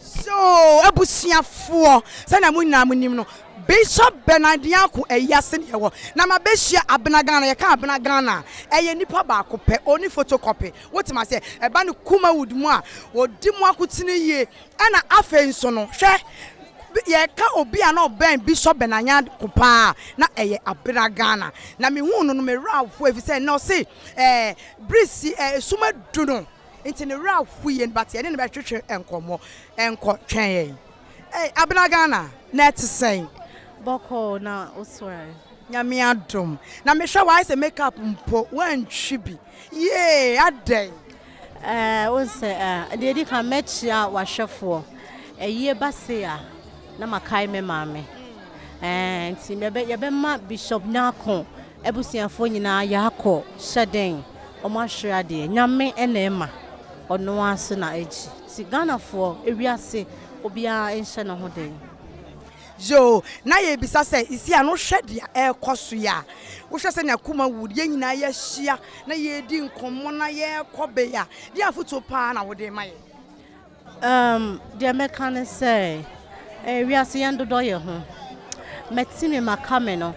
So abusuafoɔ, sɛdeɛ mo nyinaa monim no, Bishop Bernard Nyarko ayi ase na yɛwɔ, na mabɛhyia Abena Ghana. Yɛka Abena Ghana a, ɛyɛ nipa baako pɛ, ɔnni photocopy. Wote me aseɛ? Ɛba ne kumawood mu a, ɔdi mo akotene yie. Ɛna afei nso no, hwɛ, yɛka obi a na ɔbɛn Bishop Bernard Nyarko pa ara a, na ɛyɛ Abena Ghana. Na mehuu no no, me werɛ ahoe, ɛfiri sɛ na ɔse ɛɛ, bere si, ɛɛ, sum adu no. Nti ne werɛ ahow yɛn but yɛne no bɛtwetwe nkɔmmɔ. Nkɔ, twɛn yɛn. Ei, Abena Ghana, na ɛte sɛn? Bɔkɔɔ, na wo so ɛ? Nyame adom. Na mehwɛ wo a ayɛ sɛ make up mpo woantwi bi. Yie, adɛn? Ɛɛ, wohu sɛ ɛ? Deɛ ɛdi kan, mɛkyia w'ahwɛfoɔ. Ayie ba sei a, na makae me maame. Ɛɛ, nti yɛbɛma Bishop Nyarko Abusuafoɔ nyinaa yaakɔ hyɛ dɛn ɔmo ahwere adeɛ nyame na ɛma ɔnoaa so na agyi nti Ghanafoɔ ewiase obiaa nhyɛ ne ho den. Yoo na yɛrebisa sɛ Isiah no hwɛ deɛ ɛrekɔ so yi a wohwɛ sɛnea kuma wu yɛn nyinaa yɛahyia na yɛredi nkɔmmɔ na yɛrekɔ bea deɛn afotuo paa na wode rema yɛn? Umm deɛ mɛka ne sɛ eh, wiase yɛn dodɔ yɛ ho Mɛte me maka me no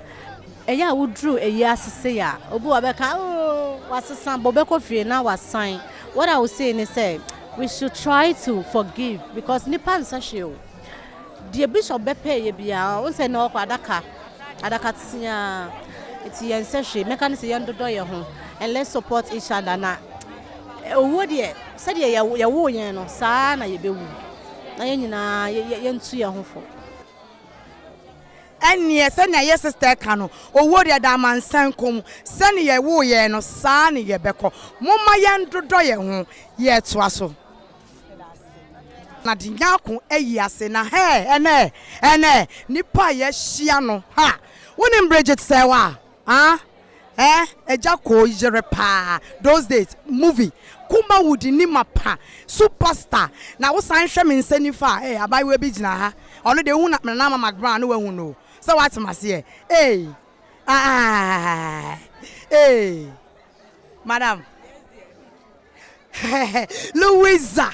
Ɛyɛ a woduru ɛyi ase sei a Obi wɔ bɛka ooh wasesa Bɔ bɛkɔ fie na wasan What I will say ne sɛ We should try to forgive Because nipa nsɛ hwee o Deɛ bishop bɛpɛɛyɛ biara wohu sɛ na ɔkɔ adaka adaka teaa nti yɛn sɛ hwee mɛka ne sɛ yɛn dodɔ yɛn ho and let's support each other na owuo deɛ sɛdeɛ yɛwoo yɛn no saa na yɛbɛwu na yɛn nyinaa yɛntu yɛn ho fo. Ɛnneɛ sɛnea yɛ sister ka no owuo deɛ ɛda amansan kɔn mu sɛnea yɛwoo yɛn no saa na yɛbɛkɔ momma yɛn dodɔ yɛn ho yɛtoa so. Na de nyako ayi ase na hɛɛ ɛnɛ ɛnɛ nipa a yɛahyia no ha wonim Bridget sɛ wa ah eh agya koo yere paa those days movie kuma wo di ni ma pa super star na wo san hwɛ me nsa nifa a eh abaayewa bi gyina ha ɔno deɛ wohu na Nana Mama Gban a na wahu no sɛ wate maseɛ eii aah eii madam. Louisa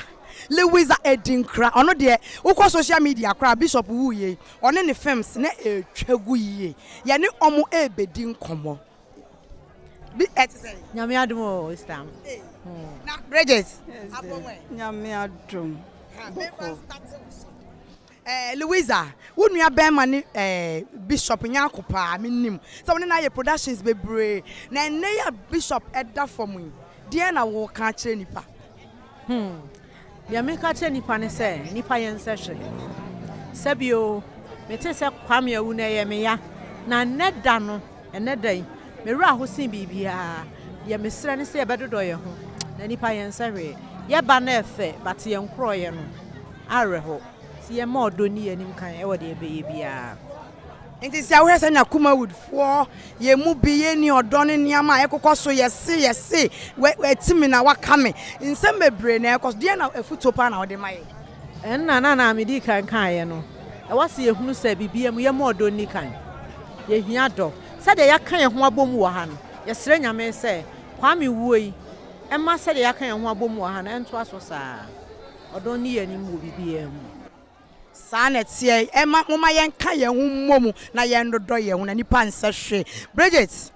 Louisa Adinkra ɔno deɛ wokɔ social media koraa Bishop wuiɛ yi ɔne ne films na ɛretwa gu yie yɛne wɔn rebɛdi nkɔmmɔ bi ɛte sɛ. Nyame adom o Easter no. Na Bridget abɔ wɛn. Nyame adom. Bɔkɔ. Eh, Louisa, wo nua bɛɛma ne eh, Bishop Nyarko paa, me nim sɛ wo ne no ayɛ productions bebree, na ɛnnɛ yi a Bishop da fam yi, deɛn na wo ka akyerɛ nnipa? Hmm, deɛ me ka akyerɛ nnipa ne sɛ, nnipa yɛ nsɛ hwee. Sɛbio, me te sɛ Kwame awu no ɛyɛ me ya, na nnɛ da no, Ɛnnɛ da yi, me werɛ ahow sen biribiara. Deɛ mesrɛ ne sɛ yɛbɛdodɔ yɛn ho, na nnipa yɛnsɛ hwee. Yɛba no ɛfɛ, but yɛn korɔyɛ no, awerɛhow. Nti yɛmma ɔdɔ nni yɛn anim kan wɔ deɛ yɛbɛyɛ biara. Nti sɛ wohwɛ sɛnea Kumawood foɔ, yɛn mu bi, yɛnni ɔdɔ ne nneɛma a ɛkokɔ so, yɛse, yɛse, wɛ, wɛ, ti me na waka me. Nsɛm bebree na ɛkɔ so. Deɛn na, afutuo paa na wode ma yɛn? Ɛnna na nea midii kan kaeɛ no, ɛwɔ sɛ yɛhunu sɛ biribiara mu yɛmma ɔdɔ nni kan. Yɛhia dɔ. Sɛdeɛ yɛaka yɛn ho abom wɔ ha no, yɛsrɛ Nyame sɛ Kwame wuo yi mma sɛdeɛ yɛaka yɛn ho abom wɔ ha no ntoa so saa ara. Ɔdɔ nni yɛn anim wɔ biribiara mu. Saa na ɛteɛ. Ɛmma momma yɛnka yɛn ho mmɔ mu na yɛnnodɔ yɛn ho na nnipa nsɛ hwee. Bridget.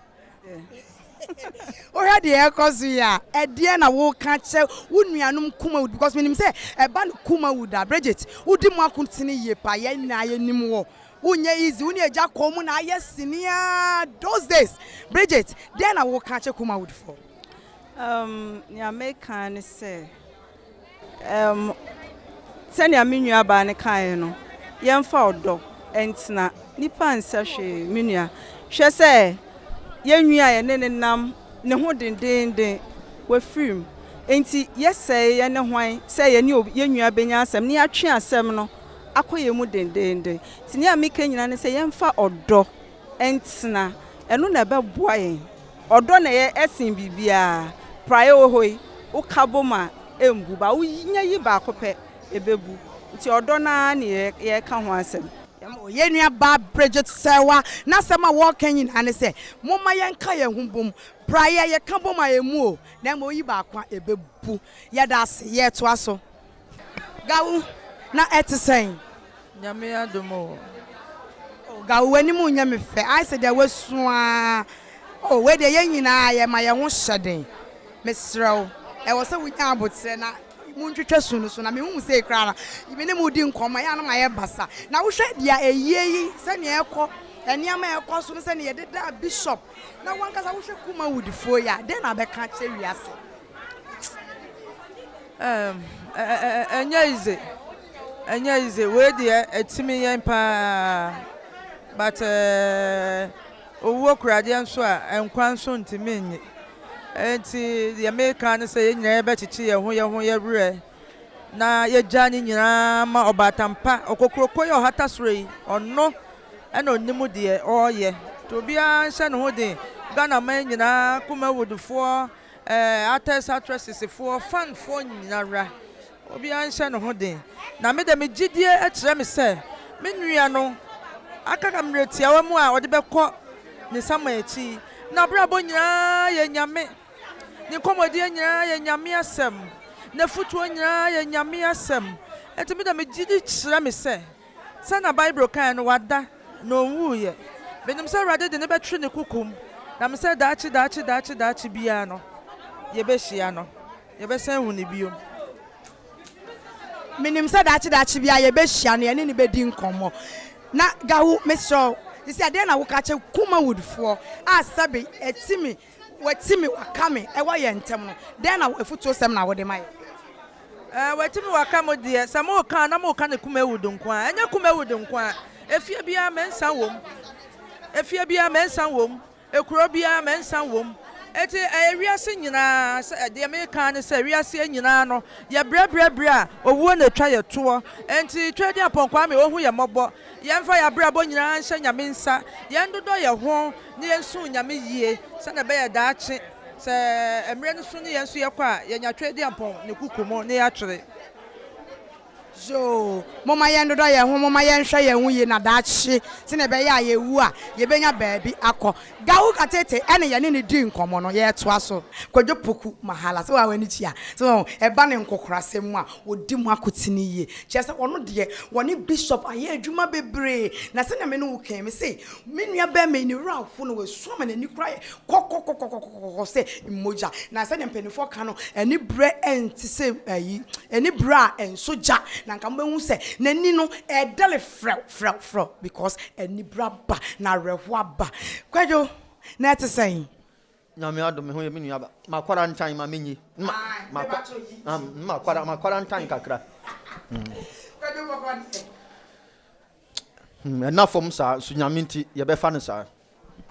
Wohwɛ deɛ ɛrekɔ so yi a, ɛdeɛn na woka kyerɛ wo nuanom Kumawud? Because menim sɛ ɛba no Kumawud a, Bridget, wodi mo akotene yie paa. Yɛn nyinaa yɛnim wo. Wonyɛ easy. Wo ne agya kɔn mu na ayɛ sini ara those days. Bridget, deɛn na woka kyerɛ Kumawudfoɔ? Umm, nea meka ara ne sɛ, Ɛm, sɛnea me nuabaa no kaeɛ no, yɛmfa ɔdɔ ntena. Nnipa nsɛ hwee, me nua. Hwɛ sɛ yɛn nwi a yɛne no nam ne ho dendeenden, wafirim. Enti yɛsɛe yɛne hwan sɛ yɛne obi, yɛn nua bɛnya asɛm na yɛatwe asɛm no akɔ yɛn mu dendeenden? Enti nea meka nyinaa ne sɛ yɛmfa ɔdɔ ntena. Ɛno na ɛbɛboa yɛn. Ɔdɔ na ɛyɛ ɛsen biribiara. Praeɛ wɔ hɔ yi, woka bom a, ɛmbu. Ba wonya yi baako pɛ, ɛbɛbu. Nti ɔdɔ no ara ne yɛreka ho asɛm. Yɛn nuabaa Bridget Serwa n'asɛm a ɔreka nyinaa ne sɛ, Momma yɛnka yɛn ho bom. Praeɛ, yɛka bom a, ɛmmu o, na mmom woyi baako a, ɛbɛbu. Yɛda ase. Yɛtoa so. Gawu, na ɛte sɛn? Nyame adom o. Oh, Gawu, w'anim nyɛ me fɛ. Ayɛ sɛ deɛ woasu ara. Oh, wei deɛ yɛn nyinaa yɛma yɛn ho hyɛ den. Mesrɛ wo, ɛwɔ sɛ wonya aboterɛ na montwitwa su no so. Na mehu wo sei koraa no, me ne wo di nkɔmmɔ a, ɛyɛ a na mayɛ basa. Na wohwɛ deɛ ayie yi, sɛdeɛ ɛrekɔ, nneɛma a ɛrekɔ so no, sɛdeɛ yɛdedaa bishop, na w'ankasa wohwɛ Kumawoodfoɔ yi a, dɛn na bɛka akyerɛ wiase? Ɛɛm, ɛnyɛ easy, ɛnyɛ easy, wei deɛ ɛtumi yɛn paa, but ɛɛɛ, owuo kura adeɛ nso a, nkwa nso ntumi nnye. Enti deɛ meka ne sɛ yɛn nyinaa yɛbɛkyekye yɛn ho yɛn ho yɛn werɛ na yɛgya ne nyinaa ma Ɔbaatan Pa, Okokuroko yi a ɔhata soro yi, ɔno na ɔnim deɛ ɔreyɛ. Nti obiara nhyɛ ne ho den, Ghanaman nyinaa, Kumawudfoɔ, Eh, actors, actresses foɔ, fan foɔ nyinara, obiara nhyɛ ne ho den, na me de me gyidie kyerɛ me sɛ me nua no aka ka mmerɛ tiawa mu a ɔde bɛkɔ ne sama akyi. N'abrabɔ nyinaa yɛ Nyame, ne nkɔmmɔdie nyinaa yɛ Nyame asɛm, n'afutuo nyinaa yɛ Nyame asɛm, enti me de me gyidi kyerɛ me sɛ. Sɛnea Bible kae no, wada, na onwuiɛ. Menim sɛ Awurade de no bɛtwe ne kokom, na me sɛ daakye, daakye, daakye, daakye biara no, yɛbɛhyia no. Yɛbɛsan ahu no bio. Menim sɛ daakye, daakye biara yɛbɛhyia no, yɛne no bɛdi nkɔmmɔ. Na Gawu, mesrɛ wo, seesei ɛdeɛn na woka kyerɛ Kumawoodfoɔ a sɛbe ɛtumi Wɔati me, wɔaka me wɔ yɛn ntam no, dɛn na afotusɛm na wode ma yɛn? Ɛɛ, wɔati me, wɔaka mo deɛ, sɛ moreka a, na moreka no Kumawudu nko ara. Ɛnyɛ Kumawudu nko ara. Efie biara, me nsa wom. Efie biara, me nsa wom. Ekuro biara, me nsa wom. Enti, ɛyɛ wiase nyinaa sɛ, deɛ mereka ara ne sɛ, wiaseɛ nyinaa no, yɛbrɛbrɛ berɛ a, owuo na ɛtwa yɛn toɔ. Enti, Tweaduampɔn Kwame, ɔhu yɛn mmɔbɔ. Yɛmfa yɛn abrabɔ nyinaa nhyɛ Nyame nsa, yɛndodɔ yɛn ho na yɛnsom Nyame yie sɛdeɛ ɛbɛyɛ daakye sɛ mmerɛ no so ne yɛn nso yɛkɔ a, yɛanya Tweaduampɔn ne kuku mu na yɛatwere. Zoo, Momma yɛndodɔ yɛn ho, momma yɛnhwɛ yɛn ho yie na daakye sɛdeɛ ɛbɛyɛ a yɛwu a, yɛbɛnya baabi akɔ. Gawu Katete ne yɛne no dii nkɔmmɔ no, yɛretoa so. Kwadwo Poku Mahala, sɛ wo ara w'ani gye a, sɛ wahu, ɛba ne nkokorasɛm mu a, ɔdi mu akotene yie. Kyerɛ sɛ, ɔno deɛ, wɔne Bishop ayɛ adwuma bebree. Na sɛdeɛ me ne wo kae, mese, me nua barima yi, ne werɛ aho na wasu ama n'ani koraa ayɛ kɔkɔkɔkɔkɔkɔ sɛ mogya. Na sɛdeɛ mpanimfoɔ ka no, ani berɛ nte sɛ ayi, ani berɛ a ɛnsɔ gya, na anka mobɛhu sɛ n'ani no, ɛredɛre frɛw. Frɛ frɛ o because anibere aba na awerɛhoɔ aba Kwadwo na ɛte sɛn? Nyame adom me ho yɛ me nua aba Makwara ntan ma menyi Makwara makwara ntan kakra Kwadwo kɔkɔ deɛ. Ɛnna fam saa nso Nyame nti yɛbɛfa no saa.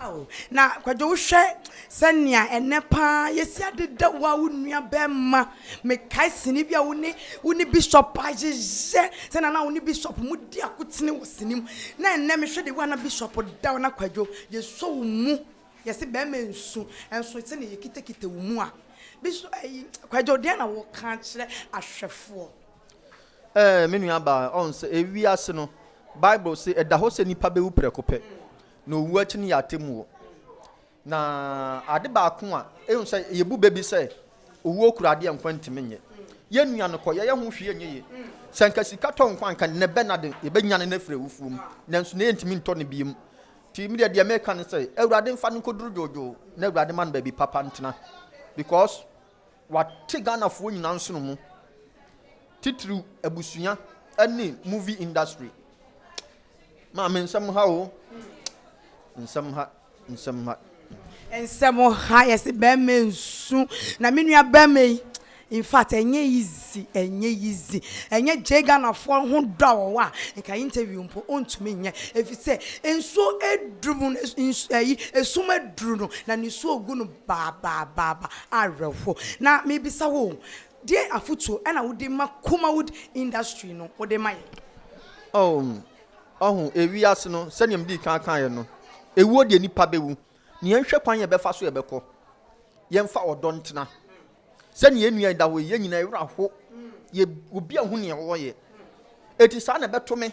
Ao, na Kwadwo wohwɛ sɛnea ɛnnɛ paa yɛsi adeda wo a wo nuabɛrima. Mekae sini bi a wo ne wo ne Bishop ayeyɛ, sɛnea na wo ne Bishop modi akotene wɔ sini mu. Na ɛnnɛ mehwɛ de wo a na Bishop da wo na Kwadwo yɛsɔ wo mu. Yɛse barima nsu, nso sɛnea yɛkitakita wo mu a, Bishop, ɛyi, Kwadwo deɛn na woreka akyerɛ ahwɛfoɔ? Ɛɛ, me nuabaa, ɔn sɛ ewiase no, Bible se ɛda hɔ sɛ nnipa bewu prɛko pɛ, na owu akyi no yɛ atemmuo. Na ade baako a ehu sɛ yebu bɛ bi sɛ owuo kura adeɛ nkwa ntumi nyɛ. Yɛn nua no kɔ, yɛyɛ ho hwee nyɛ yie. Sɛ nka sika tɔ nkwa nka nɛ bɛ na de yɛbɛnyane no afiri awufoɔ mu, nanso nɛ yɛntumi ntɔ no biom. Nti medeɛ deɛ meka ne sɛ Awurade mfa no nkɔduru dwoodwoo na Awurade ma no baabi papa ntena because Wate Ghanafoɔ nyinaa nsono mu, titiriw abusua ne movie industry. Maame nsɛm ha o, nsɛm ha, nsɛm ha. Nsɛm ha, yɛse bɛɛma nsu, na me nua bɛɛma yi, in fact ɛnyɛ easy, ɛnyɛ easy, ɛnyɛ gyee Ghanafoɔ ho dɔ a wɔwɔ a, nka interview mpo ontumi nyɛ, efisɛ nsuo aduru mu no, nsu, ɛyi, esum aduru no, na nisuo gu no. Baabaabaa awerɛhoɔ. Na mebisa wo o, deɛn afotuo na wode ma Kumawood industry no wode ma yɛn? Oh, ɔho, ewiase no, sɛdeɛ medii kan kaeɛ no, ewuo deɛ nipa bɛwu, na yɛnhwɛ kwan yɛbɛfa so yɛbɛkɔ, yɛmfa ɔdɔ ntena. Sɛdeɛ yɛn nua yi da hɔ yi, yɛn nyinaa yɛn werɛ aho, yɛ, obi ahu deɛ ɔreyɛ. Eti saa na ɛbɛto me,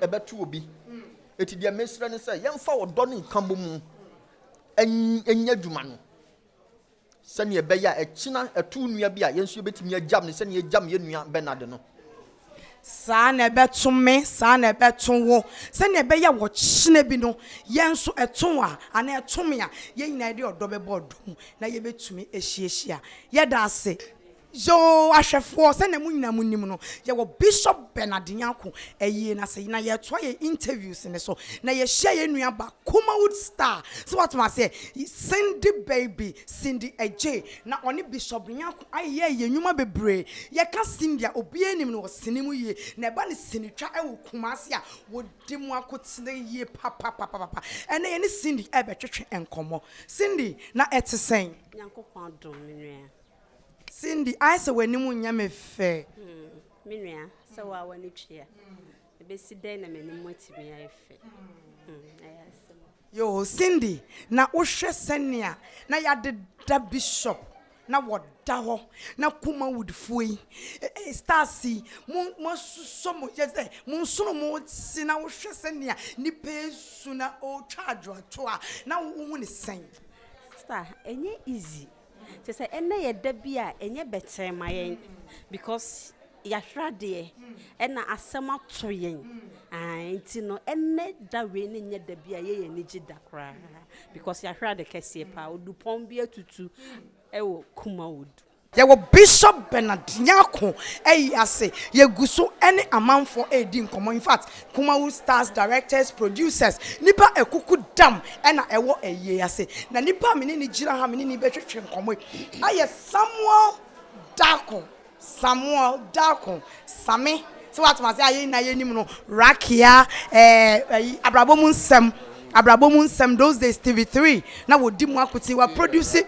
ɛbɛto obi. Eti deɛ mesrɛ ne sɛ, yɛmfa ɔdɔ ne nkabɔmu. nyɛ adwuma no sɛnea ɛbɛyɛ a ɛkyena ɛto nua bi a yɛn nso yɛbɛtumi agyam no sɛnea yɛgyam yɛn nua Bernard no. Saa na ɛbɛto me, saa na ɛbɛto wo, sɛnea ɛbɛyɛ wɔ kyena bi no yɛn nso ɛto wo a anaa ɛto me a, yɛn nyinaa yɛde ɔdɔ bɛbɔ ɔdɔ mu na yɛbɛtumi ahyiahyia. Yɛda ase. Yoo ahwɛfoɔ sɛdeɛ mo nyinaa mo nim no yɛwɔ Bishop Bernard Nyarko ayie no ase na yɛretoa yɛn interviews no so na yɛhyia yɛn nua ba Kumawood Star so wate mo aseɛ Cindy Baby Cindy Adjei na ɔne Bishop Nyarko ayeyɛɛ yɛn nwuma bebree yɛka Cindy a obiara nim no ɔsene mu yie na ɛba no sinitwa wɔ Kumasi a wɔdi mu akotene yie papapapapa ɛnɛ yɛne Cindy ɛrebɛtwetwe nkɔmmɔ Cindy na ɛte sɛn? Nyankopɔn adom me nua. Cindy, Ayɛ sɛ w'anim nyɛ me fɛ. Hmm, me nua, sɛ wo a w'ani twe a, ɛbɛsi dɛn na m'anim atumi ayɛ fɛ? Hmm, ɛyɛ asɛm. Yoo, Cindy, na wohwɛ sɛnea na yɛadeda Bishop na wɔda hɔ na Kumawoodfoɔ yi, eh, eh, stars yi, mo, moasusɔ mo, yɛ sɛ mo nsono mo se na wohwɛ sɛnea nipa esu na ɔretwa adwoadwoa na wohu ne sɛn? Star, ɛnyɛ easy. Kyerɛ sɛ ɛnnɛ yɛ da bi a ɛnyɛ bɛtɛɛ ma yɛn because yɛahwere adeɛ ɛna asɛm ato yɛn ae nti no ɛnnɛ da wei ne nyɛ da bi a yɛyɛ anigye da koraa because yɛahwere ade kɛseɛ paa odupɔn bi atutu ɛwɔ Kumawood. Yɛwɔ Bishop Bernard Nyarko Ayi ase, yɛgu so ne amanfoɔ redi nkɔmmɔ, infact Kumawu stars directors, producers, nipa akuku dam na ɛwɔ ayie ase. Na nipa a me ne no gyina ha me ne no rebɛtwetwe nkɔmmɔ yi ɛyɛ Samuel Darko, Samuel Darko, Same, sɛ woatom ase a yɛn nyinaa yɛnim no, Rakia, ɛɛ ayi, abrabɔ mu nsɛm, abrabɔ mu nsɛm, those days TV3 na wɔdi mu akote, wa produce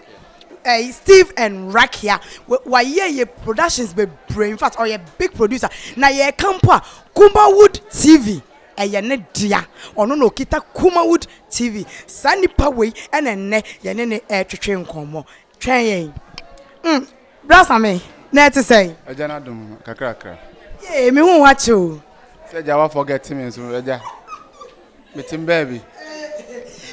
ɛyi Steve and Rakia, wayɛ yɛ productions bebree, in fact ɔyɛ big producer, na yɛreka mpo a Kumawood TV yɛ ne dea. Ɔno na ɔkita Kumawood TV. Saa nipa wei na nnɛ yɛne no retwetwe nkɔmmɔ. Twɛn yɛn. Mm, Bra Same, na ɛte sɛn? Agya n'adom kakrakra. Yee, me ho akye o. Sɛ agya wa forget me nso, agya. Metem baabi.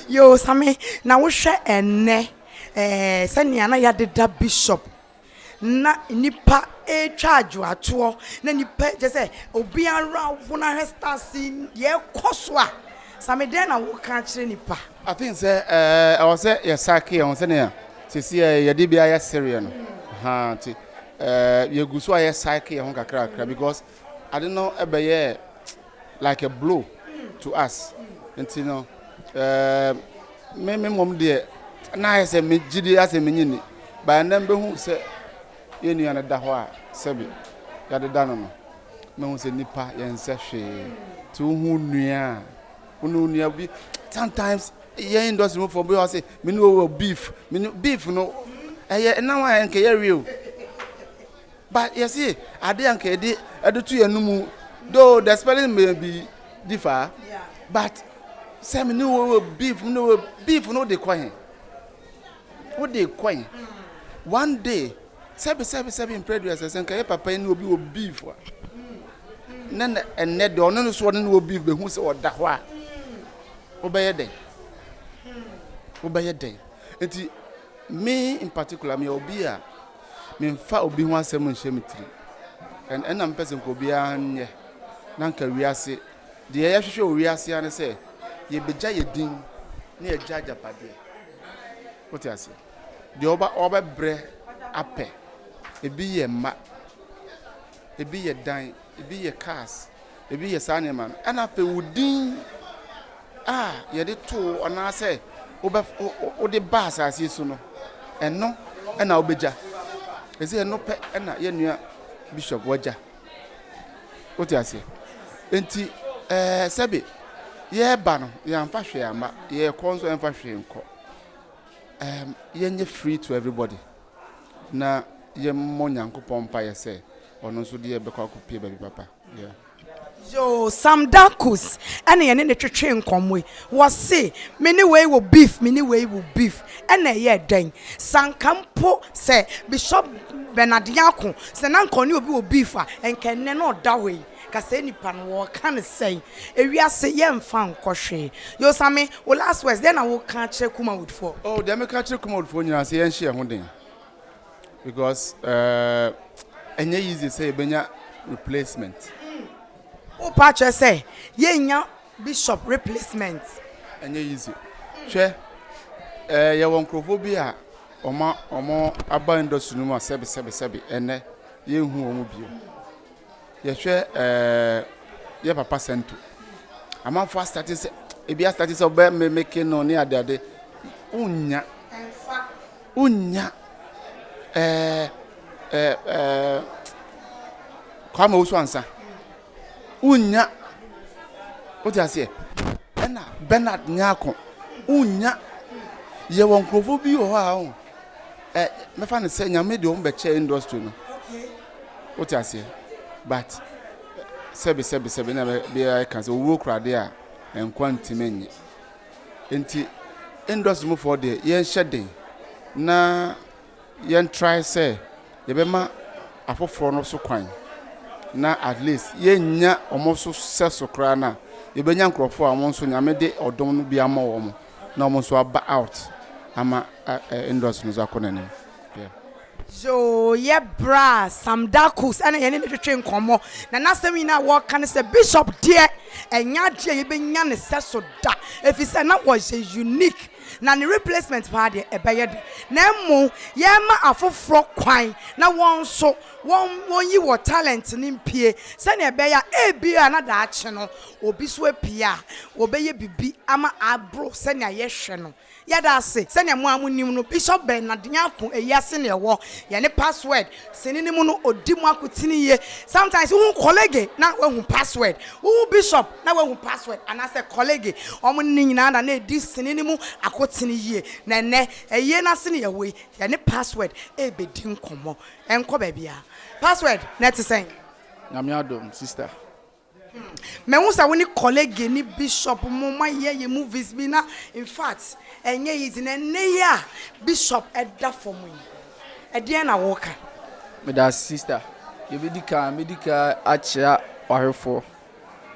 Yoo, Same, na wohwɛ ɛnnɛ, ɛɛ, sɛnea na yɛadeda Bishop Ná nnipa retwa adwoatoɔ, na nnipa kyɛ sɛ obiara ho no ahwɛ stars yi deɛ ɛrekɔ so a. Sammy dɛn na woka akyerɛ nnipa? I think sɛ ɛwɔ sɛ yɛ psyche yɛn ho sɛnea sisi yɛ yɛde bi ayɛ sereɛ no, ahaa nti yɛgu so a yɛ psyche yɛn ho kakrakra because ade no bɛyɛɛ like a blow to us nti no ɛɛ me me mmom deɛ na ayɛ sɛ me gyidie asɛ me nyi ni baa nnɛ mbɛhu sɛ yɛn nua no da hɔ a sɛbi yɛadeda no no mɛhu sɛ nipa yɛn nsɛ hwee ti wohu nua a wone nua bi sometimes yɛn industry mu fɔ bi wɔ sɛ me ne wɔ beef me ne beef no ɛyɛ ɛnam a ɛnkɛyɛ real But yɛse ade a nka yɛde ɛde to yɛn mu though the spelling may be differ but sɛ me ne wo wɔ beef me ne wo beef no de kɔ he wo de kɔ he one day sɛbi sɛbi sɛbi mpreduas sɛ nka yɛ papa yi ne obi wɔ beef a ne na ɛnɛ deɛ ɔno no so ɔne ne wɔ beef behu sɛ ɔda hɔ a wobɛyɛ dɛn wobɛyɛ dɛn nti me in particular me obi a Memfa obi ho asɛm nhyɛ me tirim. Ɛnna na mepɛ sɛ nka obiara nyɛ, na nka wiase. Deɛ yɛhwehwɛ wɔ wiase ara ne sɛ yɛbɛgya yɛn din na yɛagya agyapadeɛ. Wote aseɛ? Deɛ wɔbɛbrɛ apɛ, ebi yɛ mma. Ebi yɛ dan, ebi yɛ cars, ebi yɛ saa nneɛma no. Ɛna afei wo din a yɛde to wo anaasɛ wobɛ wode ba asase so no, ɛno ɛna wobɛgya. Ɛsɛ ɛno pɛ ɛna yɛn nua bishop wagya. Wote aseɛ? Enti ɛɛ eh, sɛbe yɛreba no yɛamfa hwee amma, yɛrekɔ nso ɛmfa hwee nkɔ. Um, yɛnyɛ free to everybody. na yɛmmɔ Nyankopɔn mpaeɛ sɛ ɔno nso deɛ bɛkɔ akɔpue baabi papa. Yeah. Yoo, Sam Darkus ɛna yɛne ne twetwee nkɔmmɔ yi. Wɔse, me ne wei wɔ beef, me ne wei wɔ beef. Ɛna ɛyɛɛ dɛn? Sɛ anka mpo sɛ Bishop Bernard Nyarko, sɛ na anka ɔne obi wɔ beef a, ɛnka ɛnnɛ na ɔda hɔ yi. Kasɛɛ nipa no wɔka no sɛn ewiase yɛ nfa nkɔ hwee yosame wo last words dɛn na wo ka kyerɛ kumawood foɔ. Oh deɛ me ka kyerɛ kumawood foɔ nyinaa sɛ yɛnhyɛ yɛn ho den because eh ɛnyɛ easy sɛ yɛbɛnya replacement. Wo pa kyerɛ sɛ yɛn nya bishop replacement. Ɛnyɛ easy hwɛ eh yɛwɔ nkorɔfoɔ bi a wɔn a wɔn aba industry no mu a sɛbi sɛbi sɛbi ɛnɛ yɛn hu wɔn bio. Yɛhwɛ ɛɛ yɛ papa sɛnto. Amanfo asate sɛ ebi asate sɛ ɔbɛ mmemmeke no ne adeade. Wonnya. Wonnya. Ɛɛ ɛɛ ɛɛ Kwame Owusu Ansa. Wonnya. Wote aseɛ? Ɛna Bernard Nyako. Wonnya. Yɛwɔ nkurɔfoɔ bi wɔ hɔ a ɛ mɛfa no sɛ nyame de wɔn bɛkyɛ industry no. Wote aseɛ? But sɛbe sɛbe sɛbe na biara ɛka sɛ owuo kura adeɛ a nkwa ntumi nye. Nti industry mu foɔ deɛ yɛnhyɛ den na yɛn try sɛ yɛbɛma afoforɔ no so kwan na at least yɛnya wɔn so sɛ so koraa na yɛbɛnya nkurɔfoɔ a wɔn nso nyame de ɔdom no bi ama wɔn na wɔn nso aba out ama industry no so akɔ n'anim. Yeah. Yɛ berɛ a Sam Darkos na yɛne no twetwee nkɔmmɔ, na n'asɛm nyinaa a ɔka ne sɛ, Bishop deɛ, ɛnyɛ adeɛ a yɛbɛnya ne sɛso da, ɛfiri sɛ na ɔyɛ unique, na ne replacement paa deɛ, ɛbɛyɛ den. Na mmom, yɛrema afoforɔ kwan na wɔn nso wɔnyi wɔn talent no mpue, sɛdeɛ ɛbɛyɛ a ebia na daakye no, obi nso apue a, ɔbɛyɛ biribi ama aboro sɛdeɛ yɛhwɛ no. Yɛda ase, sɛnea mo a mo nim no, Bishop Bernard Nyarko ayi ase na ɛwɔ yɛn ne password sini no mu no ɔdi mo akotene yie. Sometimes wohu colleague na woahu password, wohu Bishop na woahu password anaasɛ colleague, wɔn ne nyinaa na na ɛdi sini no mu akotene yie. Na ɛnnɛ ayie no ase na yɛwɔ yi, yɛne password rebɛdi nkɔmmɔ. Ɛnkɔ baabiara. Password, na ɛte sɛn? Nyame adom sister. Mahu sɛ wo ne kɔlege ne bishop mo moayɛ yɛ movies bi na infact ɛnyɛ easy na ɛnnɛ yi a bishop da fam yi ɛdeɛn na woka? Medase sister, deɛ ɛbɛdi kan mɛdi kan akyea w'ahwɛfoɔ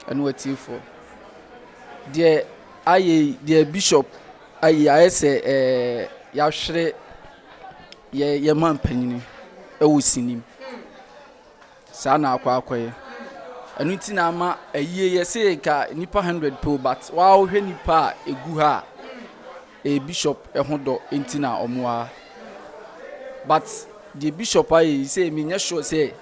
ɛne w'atiefoɔ. Deɛ ayɛ yi deɛ bishop ayɛ ayɛ sɛ ɛɛ yɛahwere yɛ yɛn manpanin ɛwɔ sini mu. Saa na akɔ akɔyɛ. Ɛno nti na ama ayie yɛ se nka nnipa hundred pɛ o but waa wo hwɛ nnipa a egu ha a ɛyɛ bishop ho dɔ nti na ɔmo waa. But deɛ bishop ayɛ yi sɛ me nyɛ sure sɛ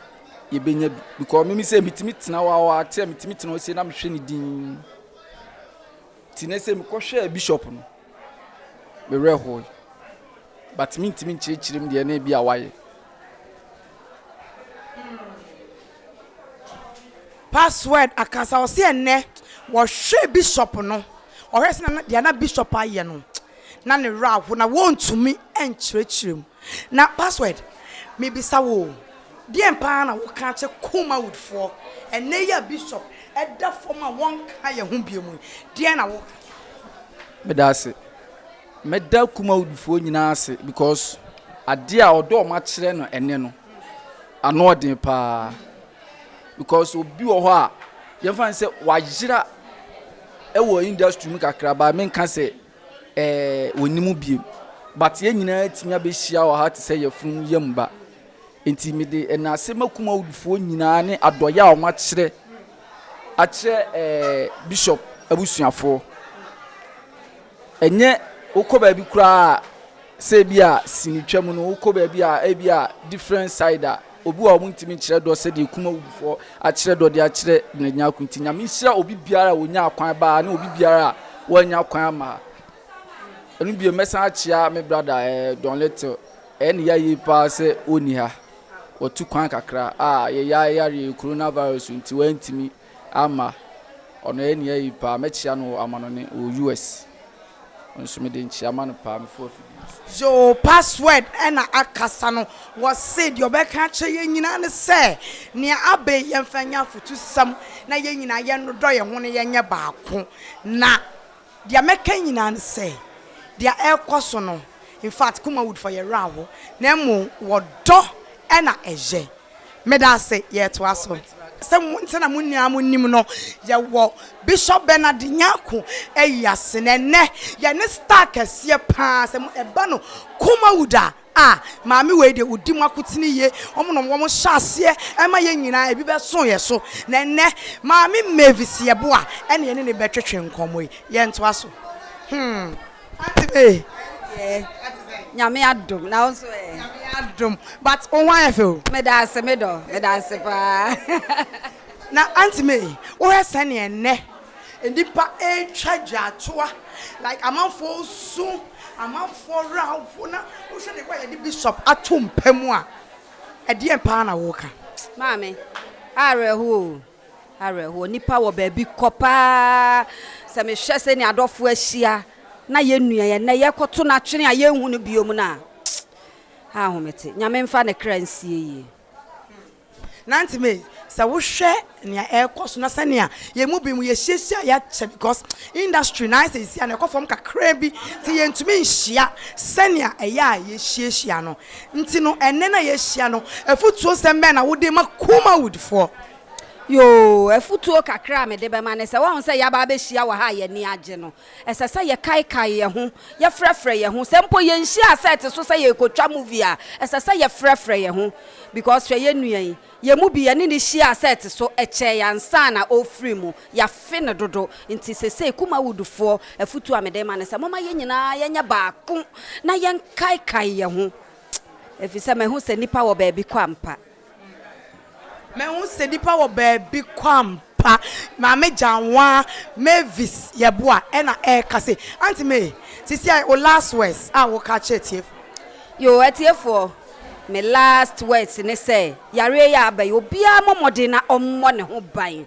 yɛ bɛ nya bi because me me sɛ me tumi tena hɔ awa te sɛ me tumi tena hɔ sei na me hwɛ ne dinn. Nti ne sɛ me kɔ hwɛɛ bishop no. me werɛ hoe, but mentumi nkyerɛkyerɛ mu deɛ na ebi a wayɛ. Password akasa ɔsi ɛnɛ wɔhwɛ bishop no ɔhwɛ sɛ na deɛ na bishop ayɛ no na ne werɛ aho na wɔntumi nkyerɛkyerɛ mu. Na password mebisa wo o, deɛn paa na wo ka kyɛ Kumawood foɔ? Ɛnnɛ yi a Bishop da fam a wɔnka yɛn ho biom yi, deɛn na wo ka? Meda ase. Mɛda Kumawood foɔ nyinaa ase because adeɛ a ɔdɔ a wɔn akyerɛ no ɛnnɛ no, ano ɔden paa. Because obi wɔ hɔ a, yɛmfa no sɛ wayera wɔ industry mu kakra but menka sɛ. Ɛɛ, wɔnni mu bio. But yɛn nyinaa atumi abɛhyia wɔ ha te sɛ yafunu yam ba. Enti mede nnaase ma Kumawudfoɔ nyinaa ne adɔeɛ a wɔakyerɛ akyerɛ ɛɛ Bishop abusuafoɔ. Ɛnyɛ wokɔ baabi koraa a, Sɛ ebia sini twa mu no wokɔ baabi a ebia different side a obi wɔ a wɔntumi nkyerɛ dɔ sɛdeɛ kum awufoɔ akyerɛ dɔ de akyerɛ Benadwina ko nti Nyame nhyira obi biara a ɔnya akwan baa ne obi biara a wɔanya kwan ama ha. Ɛno bio mɛsan akyea me brada eh, Don Little ɛyɛ ne yayie paa sɛ ɔnni ha wɔtu kwan kakra a yɛyɛ ayareɛ coronavirus nti wɔantumi Amma, ɔno ɛyɛ nea eye paa. Mɛkyea no wɔ amanɔne wɔ US. Nso mede nkyea ma no paa. Mefua afidie no so. Yoo password na akasa no wɔse deɛ ɔbɛka akyerɛ yɛn nyinaa ne sɛ nea aba yi yɛmfa nyɛ afotusɛm na yɛn nyinaa yɛnnodɔ yɛn ho na yɛnyɛ baako na deɛ mɛka nyinaa ne sɛ deɛ ɛrekɔ so no infact Kumawoodfoɔ yɛn werɛ aho na mmom wɔdɔ na ɛyɛ. Meda ase, yɛtoa so. Sɛ mo nti na mo nyinaa mo nim no, yɛwɔ Bishop Bernard Nyarko ayi ase na ɛnnɛ yɛne star kɛseɛ paa, sɛ mo ɛba no Kumawood a, ah, maame wei deɛ ɔdi mo akotene yie, wɔn na wɔn hyɛ aseɛ ɛma yɛn nyinaa, ɛbi bɛso yɛn so, na ɛnnɛ maame Mavis Yeboah ɛna yɛne no bɛtwetwe nkɔmmɔ yi, yɛntoa so, hmm. Ate me. Deɛ nyame adom na wo nso ɛ. Nyame adom but wo ho ayɛ fɛ o. Medaase me dɔ medaase paa. Na Auntie May wohwɛ sɛnea ɛnnɛ nnipa retwa dwatoa like amanfoɔ resu amanfoɔ werɛ ahow na wohwɛ deɛ ɛbɔ a yɛde Bishop ato mpa mu a ɛdeɛn paa na woka? Maame, awerɛhoɔ o. Awerɛhoɔ. Nnipa wɔ baabi kɔ pa ara. Sɛ mehwɛ sɛnea adɔfoɔ ahyia na yɛn nua yi ɛnnɛ yɛrekɔto no atwene a yɛnhu no bio no a, ahomete. Nyame mfa ne kra nsie yie. Nanti me sɛ wohwɛ nea ɛrekɔ so na sɛnea yɛn mu binom yɛhyiahyia yɛakyɛ because industry no ayɛ sɛ seesei a na ɛkɔ fam kakraa bi nti yɛntumi nhyia sɛnea ɛyɛ a yɛhyiahyia no. Nti no, ɛnnɛ no a yɛahyia no, afutuosɛm bɛn na wode ma Kumawoodfoɔ? Yoo, afutuo kakra a mede bɛma ne sɛ, woahu sɛ yɛaba abɛhyia wɔ ha a yɛn ani agye no, ɛsɛ sɛ yɛkaekae yɛn ho, yɛfrɛfrɛ yɛn ho. Sɛ mpo yɛnhyiaa sɛɛte so sɛ yɛrekɔtwa movie a, ɛsɛ sɛ yɛfrɛfrɛ yɛn ho because hwɛ yɛn nua yi, Yɛn mu bi, yɛne no hyiaa sɛ ɛte so, ɛkyɛe ansa na ɔrefiri mu. Yɛafe no dodo. Enti seesei, Kumawoodfoɔ, afotuo a mede rema ne sɛ, momma yɛn nyinaa yɛnyɛ baako na yɛnkaekae yɛn ho, ɛfiri sɛ mahu sɛ nnipa wɔ baabi kɔ ampa. Mahu sɛ nnipa wɔ baabi kɔ ampa. pa maame gyanwaa Mavis yɛboa ɛna ɛka se Auntie May sisi a wo last words a wo ka kyerɛ atiefo. Yoo atiefoɔ me last words ne sɛ yareɛ yi a aba yi obiara mmɔ mmɔden na ɔmmɔ ne ho ban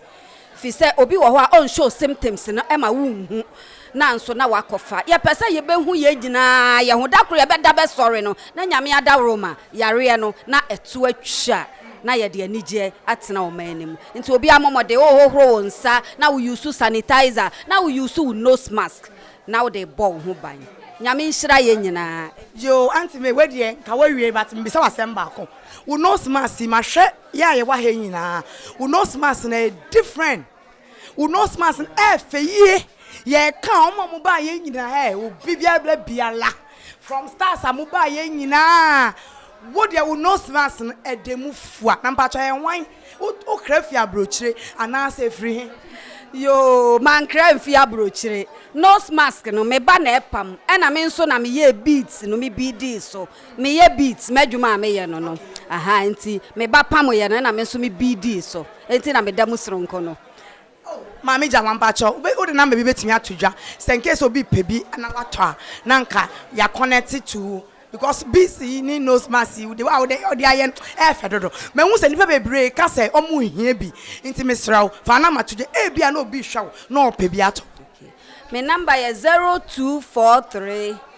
firi sɛ obi wɔ hɔ a ɔn show symptoms no ɛma wo nhu nanso na wakɔ fa yɛpɛ sɛ yɛbɛhu yɛn nyinaa yɛho da koro yɛbɛda bɛsɔre no na Nyame adaworoma yareɛ no na ɛto atwa na yɛde anigyeɛ atena ɔman no mu. Nti obiara mmɔ mmɔden, wohohoro wo nsa na wo use sanitizer na wo use wo nose mask na wode rebɔ wo ho ban. Nyame nhyira yɛn nyinaa. Yoo Auntie May wei deɛ nka wawie but mebisa wo asɛm baako. Wo nose mask yi mahwɛ yɛ a yɛwɔ ha yi nyinaa wo nose mask no ɛyɛ different. Wo nose mask no ɛfɛ yie. Yɛka wɔn a wɔbaa yɛn nyinaa ɛ, obi biara bla biara. From stars a mobaa yɛn nyinaa. Wo deɛ wo nose mask no ɛda mu fua. Na mpakyɛ yɛn wan? Wokra fi abrokyire anaasɛ ɛfiri he? Yoo, mankra mfi abrokyire. Nose mask no, me ba na ɛpam. Ɛna me nso na meyɛɛ beads no, me beadee so. Me yɛ beat m'adwuma a me yɛ no no ahaa nti me ba pamo yɛ no ɛna me nso me bidii so ɛnti na me da mu soronko no. Oh maame Gyama mpakyɛw wo wode number bi bɛtumi ato dwa sɛ incase obi pɛ bi na watɔ a na nka ya connect to wo because beads yi ne nose mask yi wode a wode ɔde ayɛ no ɛyɛ fɛ dodo mahu sɛ nipa bebree ka sɛ ɔmo hia bi nti mesrɛ wo fa number to dwa ebi a na obi hwɛ wo na ɔpɛ bi atɔ. Me number yɛ zero two four three.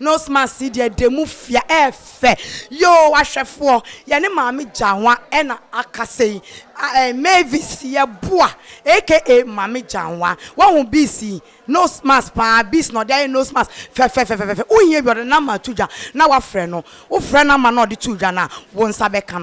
Nose mask yi deɛ demu fia ɛyɛ fɛ yoo ahwɛfoɔ yɛne maame gyanwa ɛna akasa yi aɛɛ mavis yɛboa aka maame gyanwa wahu bees yi nose mask paa bees na ɔde ayɛ nose mask fɛfɛfɛfɛfɛ wohia bi ɔde number to dwa na wafrɛ no wofrɛ number na ɔde to dwa no a wonsa bɛka no.